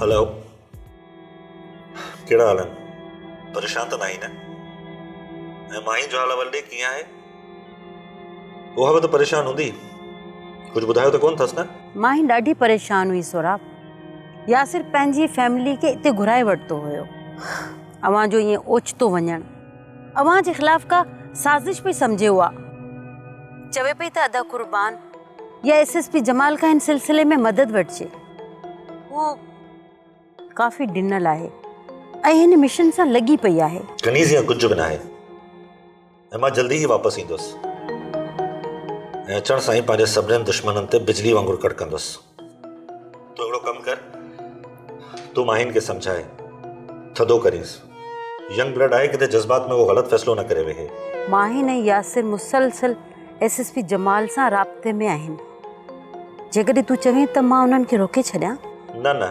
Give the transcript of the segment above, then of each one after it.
هلو ڪهڙا حال آهن پريشان ته ناهي نه ۽ مائي جو حال احوال ڏي ڪيئن آهي اها به ته پريشان هوندي ڪجهه ٻڌايو ته ڪونه اٿس نه مائي ڏاڍي پريشان هئي سهراب ياسر پنهنجي فيملي کي اتي گهرائي ورتو هيو اوهان جو ائين اوچتو وڃڻ اوهان جي خلاف ڪا سازش پئي سمجهي اها چوي پئي ته ادا قربان يا ايس ايس پي جمال کان هن سلسلي ۾ مدد وٺجي. هو ڪافي ڊنل آهي ۽ هن مشن سان لڳي پئي آهي. ڪنيز يا ڪجهه به ناهي ۽ مان جلدي ئي واپس ايندس ۽ اچڻ سان ئي پنهنجي سڀني دشمنن تي بجلي وانگر ڪڙڪندس. تون هڪڙو ڪم ڪر تون ماهين کي سمجهائي ٿڌو ڪرينس. ينگ بلڊ آهي ڪٿي جذبات ۾ اهو غلط فيصلو نه ڪري ويهي. ماهين ۽ ياسر مسلسل. ايس ايس پي جمال سان رابطي ۾ آهن جيڪڏهن تون چوين ته مان انهن کي روڪي ڇڏيان نه نه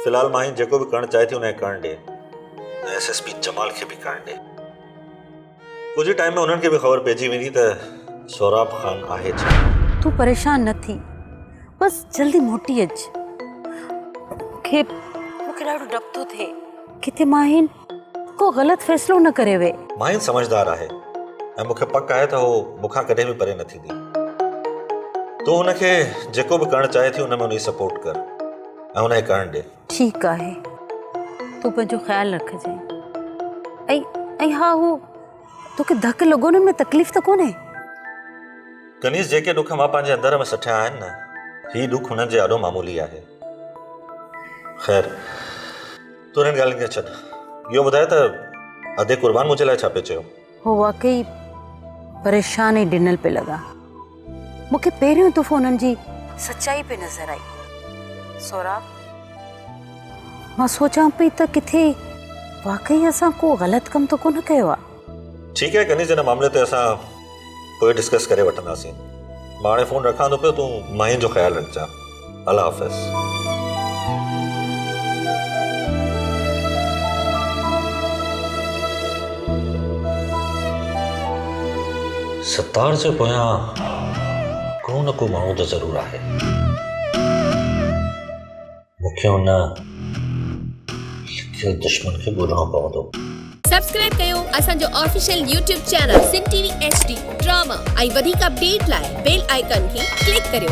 في الحال ماهي جيڪو به ڪرڻ چاهي ٿي انهي ڪرڻ ڏي ايس ايس پي جمال کي به ڪرڻ ڏي ڪجهه ٽائيم ۾ انهن کي به خبر پئجي ويندي ته سهراب خان آهي ڇا تون پريشان نه ٿي بس جلدي موٽي اچ کي مونکي ڏاڍو ڊپ ٿو ٿئي ڪٿي ماهين ڪو غلط فيصلو نه ڪري وي. مائين سمجهدار آهي ۽ مون کي پڪ آهي ته هوء مون کان ڪڏهن به پري نه ٿيندي. تون هن کي جيڪو به ڪرڻ چاهي ٿي ان ۾ هن جي سپورٽ ڪر ۽ هن کي ڪرڻ ڏي. ٺيڪ آهي. تون پنهنجو خيال رکجانء. ۽ ۽ ها هو توکي ڌڪ لڳو نه ان ۾ تڪليف ته ڪونهي؟ ڪنيز جيڪي ڏک مان پنهنجي اندر ۾ سٺيا آهن نه هي ڏک انهن جي آڏو معمولي آهي. خير. تون انهن ڳالهين کي ڇڏ اهو ٻڌاء ته ادي قربان منهنجي لاء ڇا پئي چيو؟ هو واقعي پريشان ۽ ڊنل پئي لڳا. مون کي پهريون دفعو انهن جي سچائي پئي نظر آئي. سهراب، مان سوچان پئي ته ڪٿي واقعي اسان ڪو غلط ڪم ته ڪونه ڪيو آهي. ٺيڪ آهي ڪنيز ان معاملي تي اسان پوء ڊسڪس ڪري وٺنداسين. مان هاڻي فون رکان ٿو پيو تون مائين جو خيال رکجان. الله حافظ. ستار جي پويان ڪو نه ڪو ماڻهو ته ضرور آهي. مون کي ان لکيل دشمن کي ڳولڻو پوندو. سبسڪرائب ڪيو اسان جو official YouTube channel Sindh T V H D drama ۽ وڌيڪ اپڊيٽ لاء بيل آئيڪان کي ڪلڪ ڪريو.